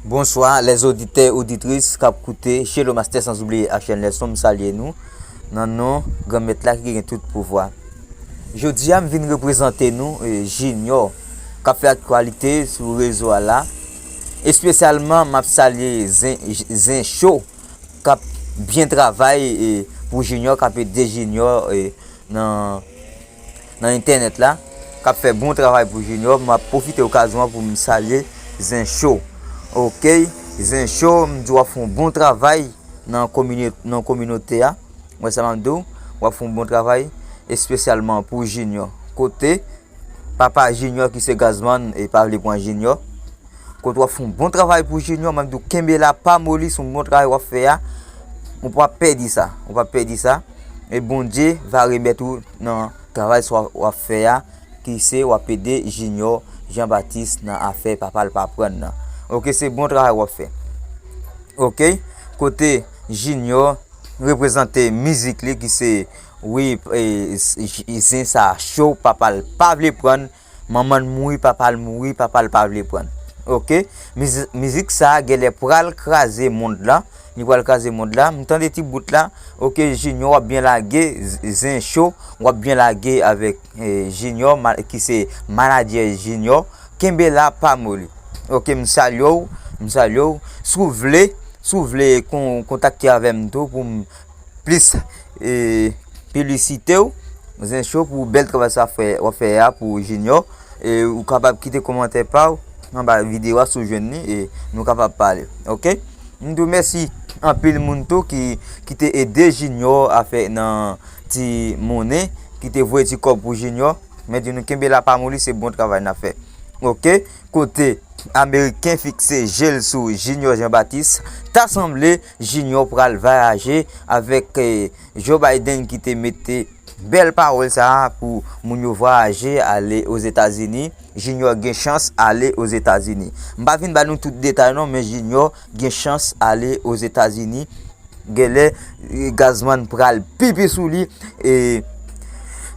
Bonswa lè zoditè oditris kap koute Shelo Mastè sanzoubliye Action Nelson m salye nou nan non Granmèt la ki gen tout pouvwa. Jodi a m vin reprezante nou e, Junior kap fè aktualite sou rezo a la. Espesyalman map salye zen zen show kap byen travay e pou Junior kap ede Junior e nan nan entènèt la kap fè bon travay pou Junior map pwofite okazyon an poum salye zen show ok zen show m di wap fè yon bon travay nan komine nan kominote a ou wè sa map diw wap fè yon bon travay espesyalman pou Junior kote papa Junior ki se Gazzman e pa vle pran Junior Kote wap fon bon travay pou junior map diw kenbe la pa moli son bon travay wap fè a ou pa pèdi sa ou pa pèdi sa e bondye va remèt ou nan travay sa wap fè a ki se wap ede junior jean baptiste nan afè papal pa pran nan ok se bon travay wap fè ok kote junior reprezante mizik li ki se wi zen sa cho papal pa vle pran Manmanl mouri papal mouri papal pa vle prann ok mizik sa genlè pral kraze mond la li pral kraze mond la m tande ti bout la ok junior wap byen lage zen cho wap byen lage avèk junior ki se manadjè junior kenbe la pa moli ok m salye w m salye w si w vle si w vle kontakte avèm tou pou m plis pilisitew zen cho pou bèl travay sa fè wap fè a pou jinyò e ou kapab kite komantè paw anba videyo a si ou jwenn li e nou kapab pale ok m di w mèsi anpil moun tou ki kite ede jinyò a fè nan ti monnen kite voye ti kòb pou jinyò mè di nou kenbe la pa moli se bon travay na fè ok kote ameriken fikse jel sou jinyò jan batis ta sanble Junior pral vayaje avek Joe Biden ki te mete bel pawol sa pou moun yo vayaje ale o Zeta Zini, Junior gen chans ale o Zeta Zini. M pa vin ba nou tout detay non men Junior gen chans ale o Zeta Zini, genle Gazman pral pipi sou li e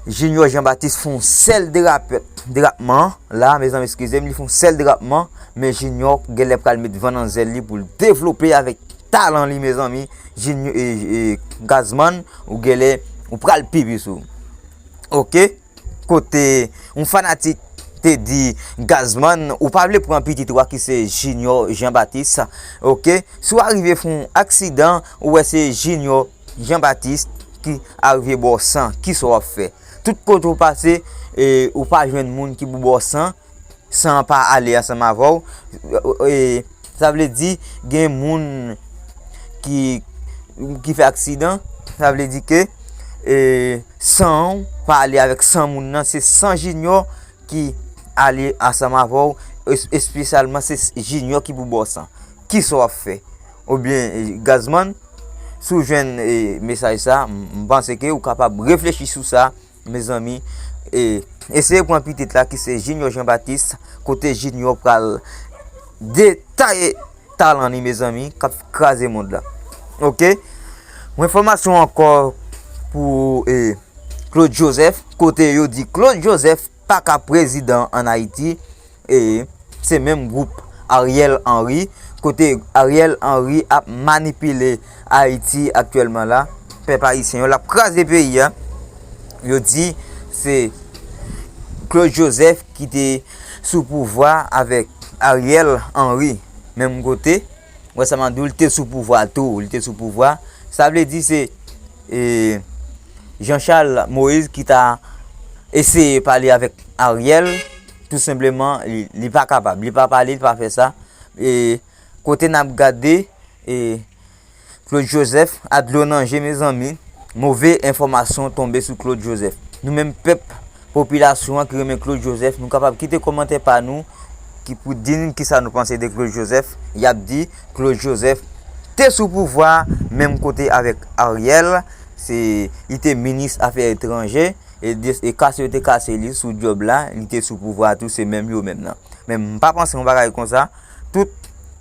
Junior Jean Baptiste fon sel derapman la mezanmi eskizem li fon sel derapman. Men junior genlè pral met van nan zèl li poul devlope avèk talan li mezanmi junior gazzman ou genlè ou pral pi plis ou ok kote yon fanatik te di gazzman ou pa vle pran pitit ou a ki se junior jean baptiste ok si w arive fon aksidan ou wè se junior jean baptiste ki arive baw san kisa wap fè tout kote ou pase ou pa jwenn moun ki pou baw san. san pa ale ansanm avè w, sa vle di gen moun ki fè aksidan, sa vle di ke san w pa ale avèk san moun nan, se san jinyò ki ale ansanm avè w, espesyalman se jinyò ki pou ba w san. Ki sa w ap fè? Ou byen gazman, si w jwenn mesaj sa, m panse ke ou kapab reflechi sou sa, Mezanmi e eseye pran pitit la ki se Junior Jean Baptiste kote Junior pral detaye talan li mezanmi kap kraze mond la ok mwen fomasyon anko pou e Claude Joseph kote yo di Claude Joseph paka prezidan an Ayiti. Ee, se menm gwoup Ariel Henry, kote Ariel Henry ap manipile Ayiti aktyèlman la, pèp ayisyen yo, l ap kraze peyi a, yo di se Claude Joseph ki te sou pouvwa avèk Ariel Henry menm kote Wesam Abdul te sou pouvwa tou, li te sou pouvwa, sa vle di se Jean Charles Moïse ki ta eseye pale avèk Ariel. Tou senpleman li pa kapab, li pa pale, li pa fè sa. E kote n ap gade e Claude Joseph a dlo nan je mezanmi, move enfòmasyon tonbe sou Claude Joseph. Nou menm pèp, popilasyon an ki renmen Claude Joseph, nou kapab kite kòmantè pa nou ki pou di n kisa nou panse de Claude Joseph. Y ap di Claude Joseph te sou pouvwa menm kote avèk Ariel, se li te minis afè etranje. e kase yo te kase li sou djòb la li te sou pouvwa tou se menm yo menm nan men m pa panse yon bagay konsa tout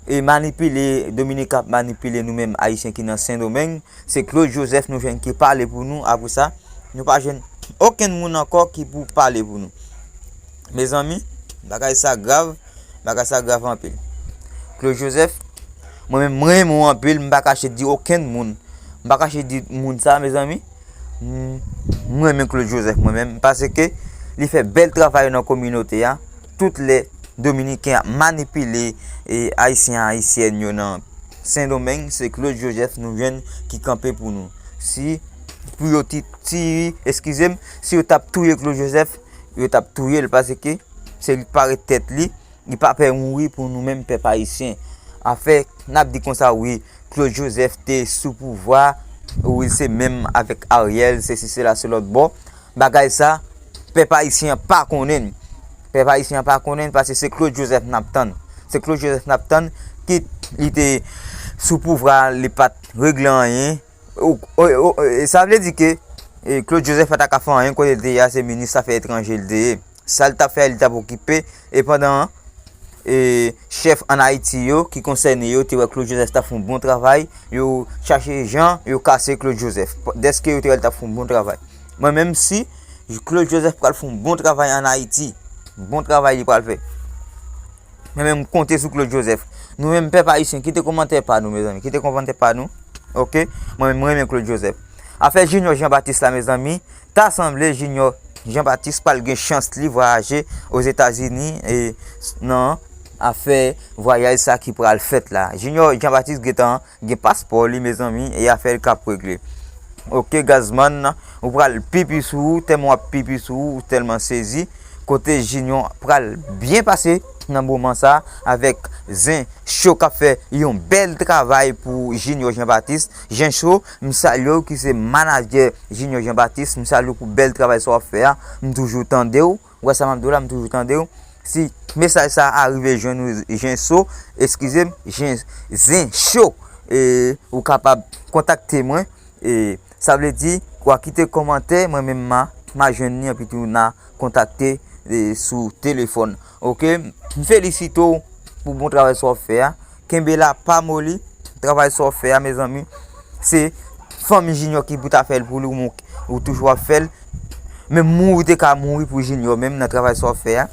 e manipile Dominiken ap manipile nou menm ayisyen ki nan sendomeng se Claude Joseph nou jwenn ki pale pou nou apre sa nou pa jwenn okenn moun ankò ki pou pale pou nou mezanmi bagay sa grav bagay sa grav anpil Claude Joseph mwen menm m renmen w anpil m pa kache di okenn moun m pa kache di moun sa mezanmi. M renmen Claude Joseph mwen menm paske li fè bèl travay nan kominote a tout lè dominiken ap manipile ayisyen ayisyèn yo nan sendomeng se Claude Joseph nou jwenn ki kanpe pou nou si pou yo ti ti eskize m si yo tap touye Claude Joseph yo tap touye l paske se li k pare tèt li Li pa pè mouri pou nou menm pèp ayisyen. Afè nap di konsa wi Claude Joseph te sou pouvwa wi se menm avèk Ariel sesi sela se lòt bò. Bagay sa pèp ayisyen an pa konnen l. Pèp ayisyen an pa konnen l paske se Claude Joseph nap tann. Se Claude Joseph nap tann kit li te sou pouvwa li pat regle anyen. Sa vle di ke Claude Joseph pa ta ka fè anyen kote l te ye a se minis afè etranje l te ye. Sa li tap fè a li tap okipe e pandan an e chèf an Ayiti yo ki konsène yo te wè Claude Joseph tap fè yon bon travay yo chache jan yo kase Claude Joseph dèske yo te wè li tap fè yon bon travay mwen menm si Claude Joseph pral fè yon bon travay an Ayiti bon travay li pral fè mwen menm m konte sou Claude Joseph nou menm pèp ayisyen kite komantè pa nou mezanmi kite komantè pa nou ok mwen menm m renmen Claude Joseph afè Junior Jean Baptiste la mezanmi Ta sanble Junior Jean Baptiste pral gen chans li vwayaje Ozetazini nan afè vwayaj sa ki pral fèt la. Junior Jean Baptiste gentan gen paspò li mezanmi e afè l kap regle. Ok Gazzman ou pral pipi sou ou tèlman wap pipi sou ou ou tèlman sezi kote Junior pral byen pase nan moman sa avèk zen cho kap fè yon bèl travay pou Junior Jean Baptiste. Gencho, m salye w ki se manadjè Junior Jean Baptiste, m salye w pou bèl travay sa w ap fè a, m toujou tande w, ou wè sa m ap di w la, m toujou tande w, si mesaj sa a rive jwenn ou Gencho, eskize m, Zencho, e ou kapab kontakte mwen, e sa vle di wa kite kòmantè mwen menm ma ma jwenn li anpi tou na kontakte sou telefòn ok, m felisite w pou bon travay sa w ap fè a. Kenbe la pa moli. Travay sa w fè a mezanmi se fanmi Junior ki pou ta fè l pou li men ou toujou ap fè l. Menm mouri ou te ka mouri pou Junior menm nan travay sa w ap fè a.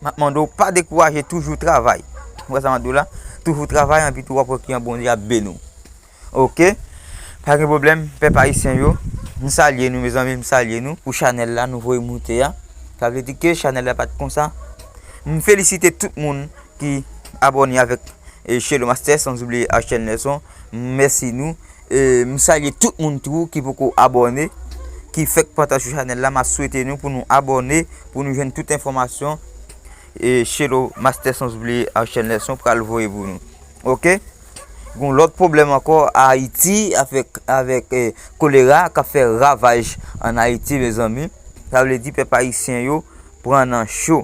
M ap mande w pa dekouraje toujou travay. Ou wè sa m ap di w la? Toujou travay anpi tou w ap wè kijan Bondye ap beni w. Ok pa gen problem pèp ayisyen yo m salye nou mezanmi m salye nou pou chanèl la nou voye moute a sa vle di ke chanèl la pat konsa m felisite tout moun ki abòne avèk Shelo Master san oubliye Ashel Nelson m mèsi nou m salye tout moun tou ki poko abòne ki fèk pata sou chanèl la m ap swete nou pou nou abòne pou nou jwenn tout enfòmasyon Shelo Master san oubliye Ashel Nelson pral voye pou nou ok. Gon lòt pwoblèm ankò Ayiti avèk avèk kolera kap fè ravaj an Ayiti mezanmi sa vle di pèp ayisyen yo pran nan cho.